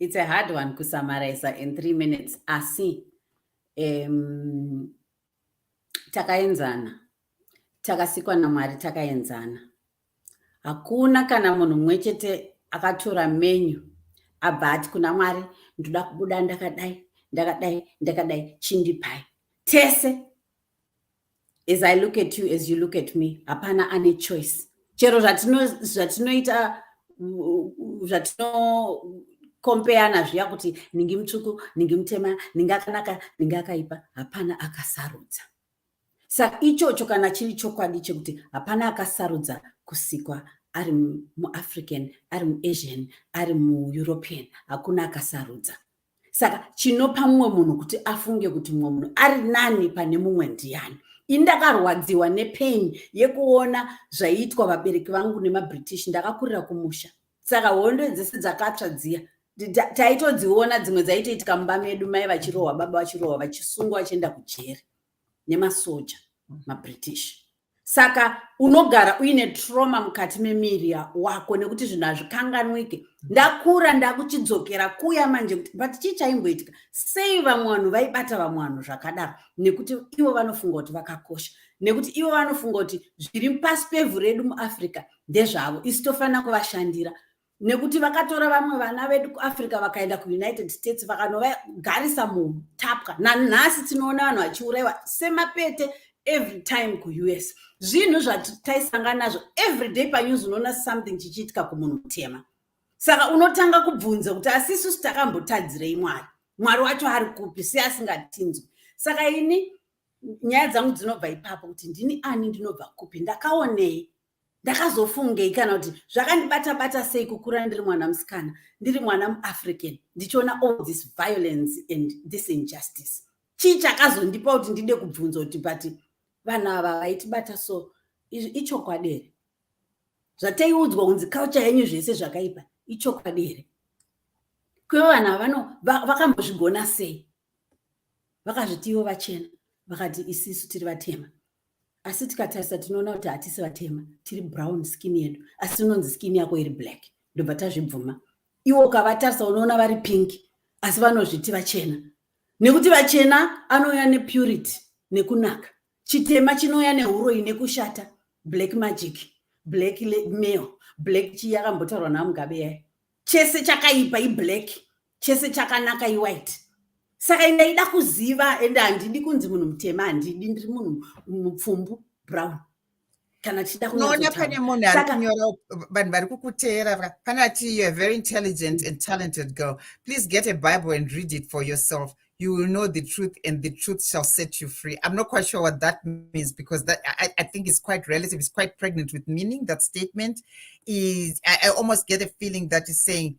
Speaker 2: It's a hard one to summarize in three minutes. Asi, um, takaenzana. Takasikwa na Mwari takaenzana. Hakuna kana munhu mumwe chete akatora menyu abva ati kuna Mwari ndoda kubuda ndakadai ndakadai ndakadai chindipai tese as i look at you as you look at me hapana ane choice chero zvatinoita zvatinokompeyana zviya kuti ningi mutsvuku ningi mutema ningi akanaka ningi akaipa hapana akasarudza saka ichocho kana chiri chokwadi chekuti hapana akasarudza kusikwa ari muafrican ari muasian ari mueuropean hakuna akasarudza saka chinopa mumwe munhu kuti afunge kuti mumwe munhu ari nani pane mumwe ndiyani ini ndakarwadziwa nepain yekuona zvaiitwa vabereki vangu nemabritish ndakakurira kumusha saka hondo dzese dzakatsva dziya taitodziona dzimwe dzaitoitika mumba medu mai vachirohwa baba vachirohwa vachisungwa vachienda kujeri nemasoja mabritish saka unogara uine trauma mukati memiri wako nekuti zvinhu hazvikanganwike ndakura ndakuchidzokera kuya manje kuti but chii chaimboitika sei vamwe vanhu vaibata vamwe vanhu zvakadaro nekuti ivo vanofunga kuti vakakosha nekuti ivo vanofunga kuti zviri pasi pevhu redu muafrica ndezvavo isi tofanira kuvashandira nekuti vakatora vamwe vana vedu kuafrica vakaenda kuunited states vakanovagarisa mutapwa nanhasi tinoona vanhu vachiurayiwa semapete every time kuus zvinhu zvataisangana nazvo every day panews unoona something chichiitika kumunhu mutema saka unotanga kubvunza kuti asisusu takambotadzirei mwari mwari wacho ari kupi se asingatinzwi saka ini nyaya dzangu dzinobva ipapo kuti ndini ani ndinobva kupi ndakaonei ndakazofungei kana kuti zvakandibata bata sei kukura ndiri mwana musikana ndiri mwana muafrican ndichiona all this violence and this injustice chii chakazondipa kuti ndide kubvunza kuti but vanhu ava vaitibata so izvi ichokwadi here zvataiudzwa kunzi culture yenyu zvese zvakaipa ichokwadi here kwevo vanhu ava vano vakambozvigona sei vakazviti ivo vachena vakati isisu tiri vatema asi tikatarisa tinoona kuti hatisi vatema tiri brown skin yedu asi unonzi skin yako iri black ndobva tazvibvuma iwo ukavatarisa unoona vari pink asi vanozviti vachena nekuti vachena anouya nepurity nekunaka chitema chinouya neuroyi nekushata black magic black mail black chii yakambotaurwa namugabe yayo chese chakaipa iblack chese chakanaka iwhite saka ndaida kuziva ende handidi kunzi munhu mutema handidi ndiri munhu mupfumbu brown kana tichida kunoona pane munhu ari
Speaker 1: kunyora vanhu vari kukuteera pane ati youare very intelligent and talented girl please get a bible and read it for yourself you will know the truth and the truth shall set you free i'm not quite sure what that means because that i, I think it's quite relative it's quite pregnant with meaning that statement is i, I almost get a feeling that is saying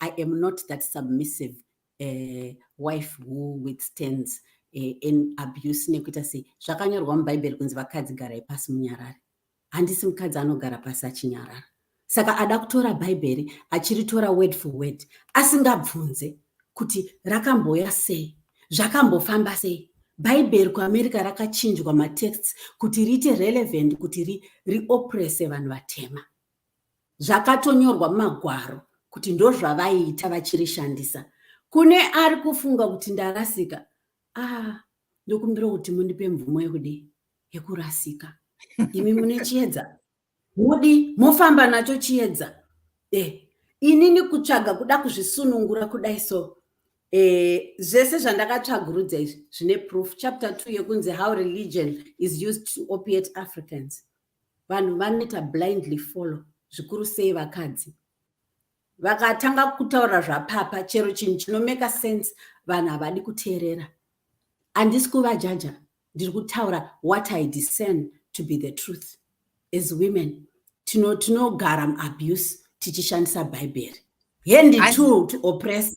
Speaker 2: i am not that submissive uh, wife who withstands uh, in abuse nekuita sei zvakanyorwa mubhaibheri kunzi vakadzi garai pasi munyarari handisi mukadzi anogara pasi achinyarara saka ada kutora bhaibheri achiritora word for word asingabvunze kuti rakambouya sei zvakambofamba sei bhaibheri kuamerica rakachinjwa matexts kuti riite relevant kuti riopprese vanhu vatema zvakatonyorwa mumagwaro kuti ndozvavaiita vachirishandisa kune ari kufunga kuti ndarasika ah ndokumbira kuti mundipe mvumo yekudi yekurasika imi mune chiedza mudi mofamba nacho chiedza e eh, inini kutsvaga kuda kuzvisunungura kudai so e zvese zvandakatsvagurudza izvi zvine proof chapter two yekunzi how religion is used to opiate africans vanhu vanoita blindly follow zvikuru sei vakadzi vakatanga kutaura zvapapa chero chinhu chinomeka sense vanhu havadi kuteerera handisi kuvajaja ndiri kutaura what i discern to be the truth as women tinogara tino muabuse tichishandisa bhaibheri hendi two to oppress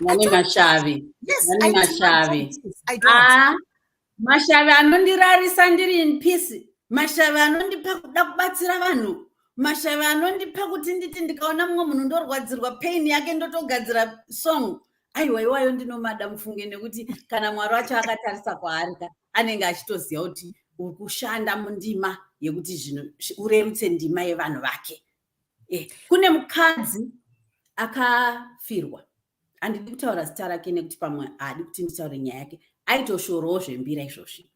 Speaker 1: vane mashavi vane mashavi ah, mashavi
Speaker 2: anondirarisa ndiri in peace mashavi anondipa kuda kubatsira vanhu mashavi anondipa kuti nditi ndikaona mumwe munhu ndorwadzirwa pain yake ndotogadzira song aiwa iwayo ndinomada mufunge nekuti kana mwari wacho akatarisa kwaari ka anenge achitoziva kuti uri kushanda mundima yekuti zvinhu urerutse ndima yevanhu vake eh, kune mukadzi akafirwa handidi kutaura zita rake nekuti pamwe haadi kuti nditaure nyaya yake aitoshorowo zvembira izvozvi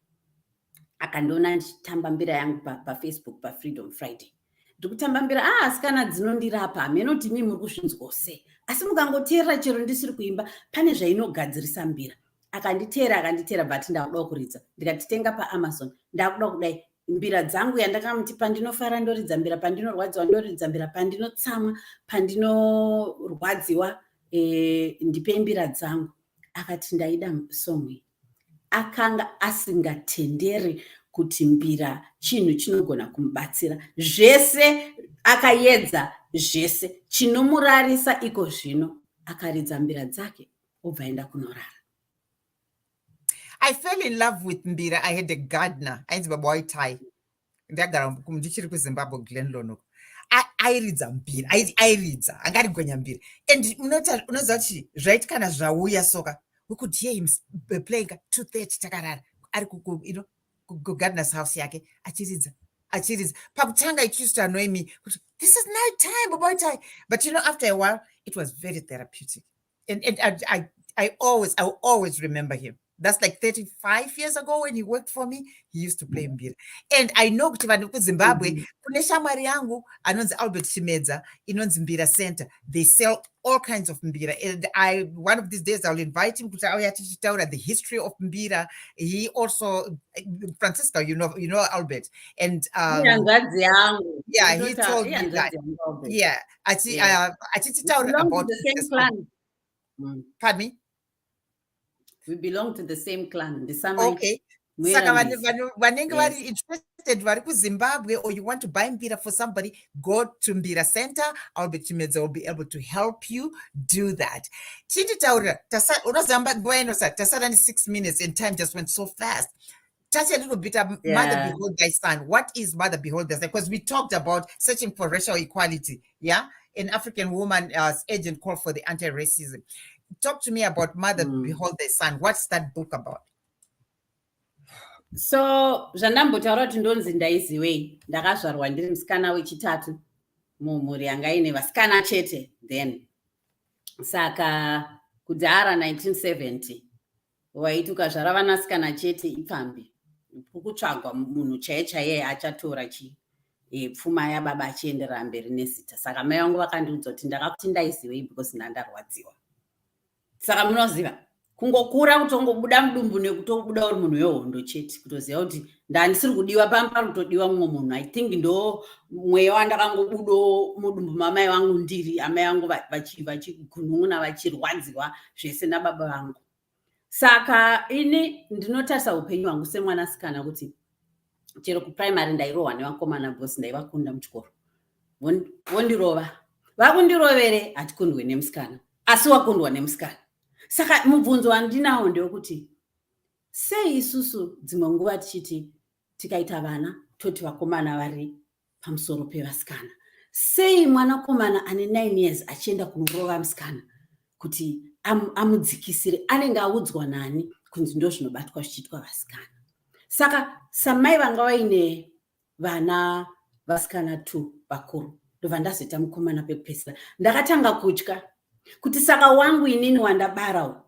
Speaker 2: akandiona ndichitamba mbira yangu pafacebook pa pafreedom friday ndikutamba mbira a ah, asikana dzinondirapa hameno kuti mii muri kuzvinzwawo sei asi mukangoteerera chero ndisiri kuimba pane zvainogadzirisa mbira akanditeera akanditeera but ndakudawo kuridza ndikatitenga paamazon ndakuda kudai mbira dzangu yandakamuti pandinofara ndoridza mbira pandinorwadziwa ndoridza mbira pandinotsamwa pandinorwadziwa e, ndipe mbira dzangu akati ndaida song iyi akanga asingatenderi kuti mbira chinhu chinogona kumubatsira zvese akayedza zvese chinomurarisa iko zvino akaridza mbira dzake obva enda kunorara
Speaker 1: i fell in love with mbira i had a gardener ainzi baba waitai ndagara ndichiri kuzimbabwe glenlon airidza mbira airidza anga arigwenya mbira and unoziva kuti zvaiti kana zvauya soka we could hear him playing two thirty takarara ari kugardeners house yake achiridza achiridza pakutanga it used to annoy me kuti this is night time baba waitai but you know after a while it was very therapeutic and, and I, I, I always I will always remember him that's like 35 years ago when he worked for me he used to play mbira and i know kuti vanhu kuzimbabwe mm-hmm. kune shamwari yangu anonzi albert chimedza inonzi mbira center they sell all kinds of mbira and i one of these days iwill invite him kuti auya tichitaura the history of mbira he also francisco you know, you know albert and um, yangu yeah he told me that yeah achititaurira about mm.
Speaker 2: pardon me we belong to the same clan ndisama okay
Speaker 1: saka vanenge vari interested vari kuzimbabwe or you want to buy mbira for somebody go to mbira center albert chimedza will be able to help you do that chinditaurira unoziva nguva inosati tasara ne six minutes and time just went so fast touch a little bit of yeah. mother behold thy son what is mother behold thy son because we talked about searching for racial equality yeah an african woman uh, agent called for the anti-racism talk to me about mother mm. behold thy son what's that book about so
Speaker 2: zvandambotaura kuti ndonzi ndaiziwei ndakazvarwa ndiri musikana wechitatu mumhuri yanga ine vasikana chete then saka kudhara 1970 waiti ukazvara vanasikana chete ipfambi kukutsvagwa munhu chaiye chaiye achatora chii e, pfuma yababa achienderera mberi nezita saka mai vangu vakandiudza kuti ndakakuti ndaizivei because ndandarwadziwa saka munoziva kungokura kutongobuda mudumbu nekutobuda uri munhu wehondo chete kutoziva kuti ndandisiri kudiwa pano panotodiwa mumwe munhu i think ndo mweya wandakangobudo mudumbu mamai vangu ndiri amai vangu vachigunun'una vachirwadziwa zvese nababa vangu saka ini ndinotarisa upenyu hwangu semwana sikana kuti chero kuprimary ndairohwa nevakomana bcause ndaivakunda muchikoro vondirova vakundirovere hatikundwe nemusikana asi wakundwa nemusikana saka mubvunzo wandinawo ndewekuti Sei isusu dzimwe nguva tichiti tikaita vana toti vakomana vari pamusoro pevasikana? Sei mwanakomana ane 9 years achienda kunorova musikana kuti am, amudzikisire? Anenge audzwa nani kunzi ndo zvinobatwa zvichiitwa vasikana? Saka samai vanga vaine vana vasikana two vakuru ndobva ndazoita mukomana pekupedzisira ndakatanga kutya kuti saka wangu inini wandabara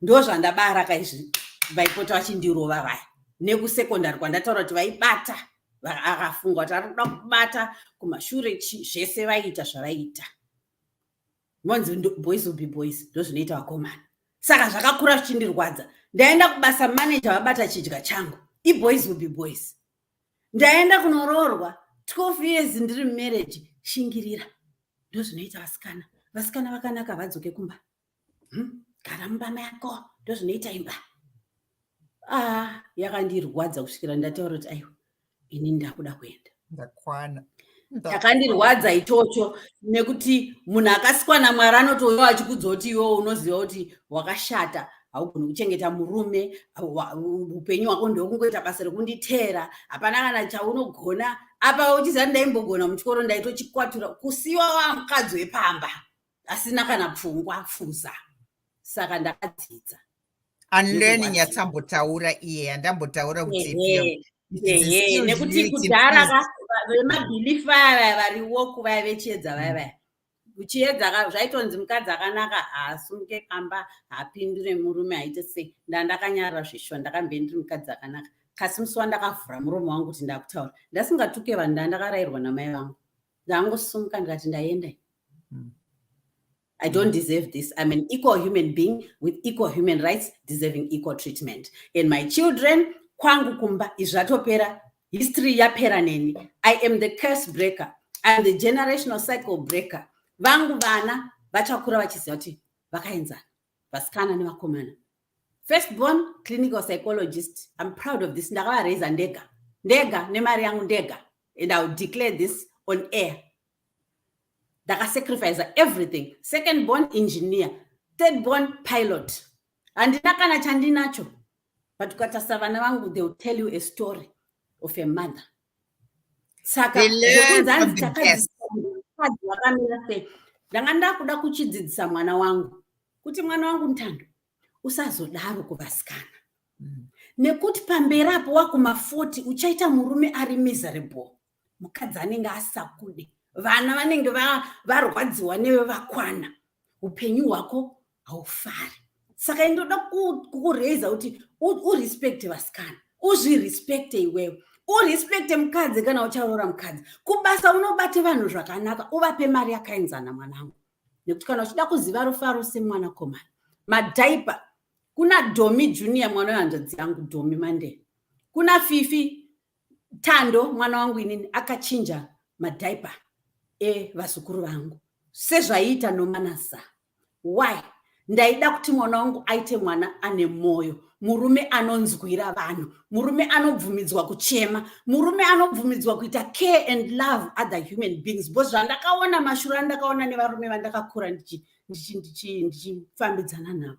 Speaker 2: ndozvandabara kaizvi vaipota vachindirova vaya nekusecondary kwandataura kuti vaibata akafunga kuti arikuda kubata kumashure chi zvese vaiita zvavaiita vonzi boys will be boys ndozvinoita vakomana saka zvakakura zvichindirwadza ndaenda kubasa manager vabata chidya changu iboys will be boys ndaenda kunoroorwa 12 years ndiri mumarriage shingirira ndozvinoita vasikana vasikana vakanaka vadzoke kumba hmm? gara mumba mako ndozvinoita imba ah yakandirwadza kusvikira ndataura kuti aiwa ini ndakuda kuenda ndakwana
Speaker 1: chakandirwadza
Speaker 2: ichocho nekuti munhu akasikwa namwari anotouya achikudza kuti iwo unoziva kuti wakashata haugoni kuchengeta murume upenyu hwako ndokungoita basa rekunditeera hapana kana chaunogona apa uchiziva ndaimbogona muchikoro ndaitochikwatura kusiwa wamukadzi wepamba asina kana pfungwa pfuza saka ndakadzidza anleni
Speaker 1: nyatsambotaura iye andambotaura
Speaker 2: nekuti kudhara vemabhilifu vaya vaya variwo kuvaya vechiedza vaya mm. vaya uchiedza zvaitonzi mukadzi akanaka haasunge pamba haapindure murume haite sei ndandakanyarira zveshuwa ndakambe ndiri mukadzi akanaka kasi musi wandakavhura murume wangu kuti ndakutaura ndasingatuke vanhu ndandakarairwa namai vangu ndangosumuka ndikati ndaenda mm. I don't deserve this. I'm an equal human being with equal human rights, deserving equal treatment. And my children, kwangu kumba, izvatopera, history yapera neni. I am the curse breaker. I am the generational cycle breaker. Vangu vana, vachakura vachiziva kuti vakaenzana, vasikana nevakomana. first born clinical psychologist i'm proud of this ndakavaraiza ndega ndega nemari yangu ndega and iwill declare this on air ndakasacrifice everything second born engineer third born pilot handina kana chandinacho but ukatarisa vana vangu they will tell you a story of a mother saka ndanga ndakuda kuchidzidzisa mwana wangu kuti mwana wangu ntando usazodaro kuvasikana mm. nekuti pamberi apo wakuma 40 uchaita murume ari miserable mukadzi anenge asakude vana vanenge varwadziwa neve vakwana upenyu hwako haufari saka ini ndoda kukuraiza kuti urespecte vasikana uzvirespecte iwewe urespecte mukadzi kana ucharoora mukadzi kubasa unobate vanhu zvakanaka uvape mari yakaenzana mwanangu nekuti kana uchida kuziva rufaro semwana komana madhaipa kuna domi junior mwana wehanzvadzi yangu domi mande kuna fifi Tando mwana wangu inini akachinja madhaipa evazukuru vangu sezvaiita nomanasa why ndaida kuti mwana wangu aite mwana ane mwoyo murume anonzwira vanhu murume anobvumidzwa kuchema murume anobvumidzwa kuita care and love other human beings bcause zvandakaona mashura andakaona nevarume vandakakura ndichifambidzana navo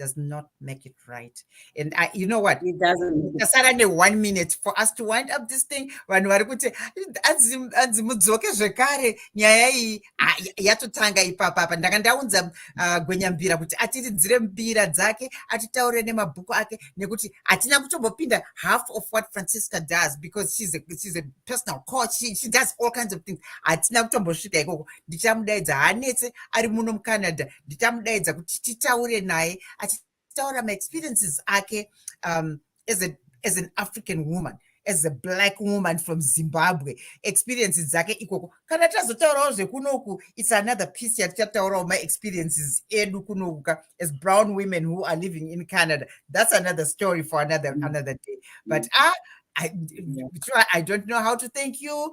Speaker 1: does not make it right. And I, you know what? It doesn't. Just
Speaker 2: only one
Speaker 1: minute for us to wind up this thing. When we are going to, as as mudzoke zvekare nyaya iyi ah, yatotanga ipapa apa ndanga ndaunza ah, gwenyambira kuti atiridzire mbira dzake atitaure nemabhuku ake nekuti hatina kutombopinda half of what francisca does because she's a, she's a personal coach she, she does all kinds of things hatina kutombosvika ikoko ndichamudaidza hanetse ari muno mucanada ndichamudaidza kuti titaure naye achitaura maexperiences ake um, as, a, as an african woman as a black woman from zimbabwe experiences dzake ikoko kana tazotaurawo zvekunoku its another piece yatichataurawo maexperiences edu kunokuka as brown women who are living in canada that's another story for another, mm. another day but mm. ah, I, I don't know how to thank you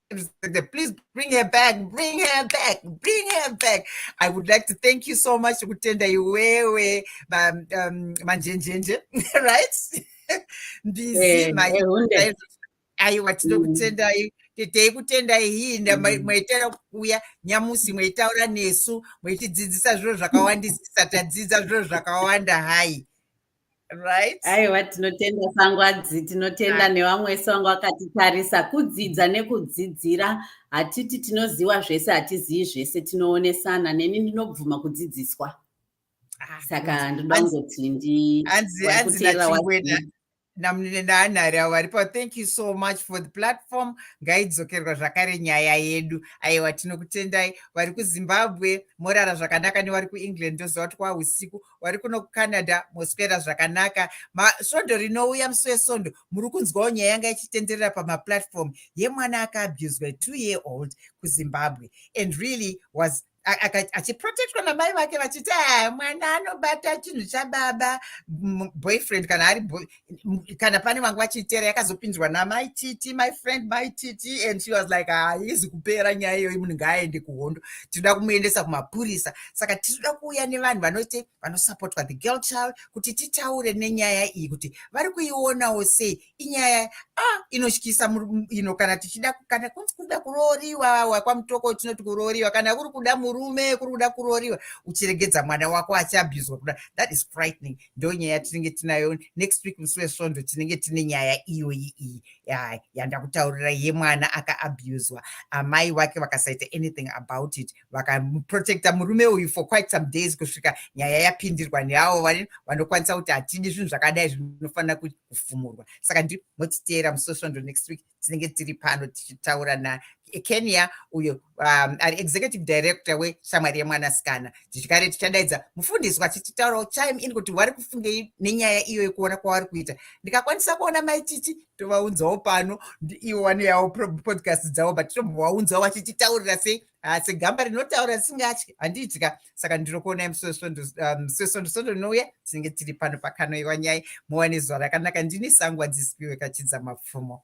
Speaker 1: please bring her back bring her back bring her back i would like to thank you so much kutenda iwewe um, um, manjenjenje right mbizi eh, eh, aiwa tinokutendai mm. tetei kutendai hii mm. maitera kuuya nyamusi maitaura nesu maitidzidzisa zviro zvakawandisisa tadzidza zviro zvakawanda hai right aiwa tinotenda
Speaker 2: sangwadzi tinotenda nevamwe wese vanga vakatitarisa kudzidza nekudzidzira hatiti tinoziva zvese hatizivi zvese tinoonesana neni ndinobvuma kudzidziswa ah, saka ndoda kungoti ndikuteerera
Speaker 1: namunene naanhari avo varipo thank you so much for the platform ngaidzokerwa zvakare nyaya yedu aiwa tinokutendai vari kuzimbabwe morara zvakanaka nevari kuengland ndoziva kuti kwausiku wari kuno kucanada moswera zvakanaka svondo rinouya musi wesondo muri kunzwawo nyaya yanga ichitenderera pamaplatform yemwana akaabuswa two year old kuzimbabwe and really was achiprotectwa namai vake vachiti ah, mwana anobata chinhu chababa boyfriend kana ari kana pane vanga vachiitera yakazopinzwa namai titi my friend my titi and she was like haizi ah, kupera nyaya iyoyi munhu ngaaende kuhondo tinoda kumuendesa kumapurisa saka tinoda kuuya nevanhu vanoite vanosupportwa the girl child kuti titaure nenyaya iyi kuti vari kuionawo sei inyaya a ah, inotyisa ino kana tichida kana kunzi kuda kurooriwa wakwamutoko tinoti kurooriwa kana kuri kuda murume kuri kuda kurooriwa uchiregedza mwana wako achiabhuzwa kuda that is frightening ndonyaya yatinenge tinayo next week musi wesvondo tinenge tine nyaya iyoyi iyi yandakutaurira yemwana akaabuswa amai wake vakasaita anything about it vakaprotecta murume uyu for quite some days kusvika nyaya yapindirwa neavo vanokwanisa kuti hatidi zvinhu zvakadai zvinofanira kufumurwa saka ndimotiteera musi wesvondo next week tinenge tiri pano tichitaura na Kenya uyo um, ari executive director weshamwari yemwanasikana tichikare tichadaidza mufundiswa tichitaurawo chime in kuti vari kufungei nenyaya iyo yekuona kwavari kuita ndikakwanisa kuona maititi tovaunzawo pano ivo vanoyawo podcast dzavo but tinovaunzawo vachititaurira sei ah, segamba rinotaura risingatyi handiitika saka ndiri kuonai musi wesvondo um, rinouya tinenge tiri pano pakanoiwa nyai muwane zuva rakanaka ndini sangwa dzisipiwe kachidza mapfumo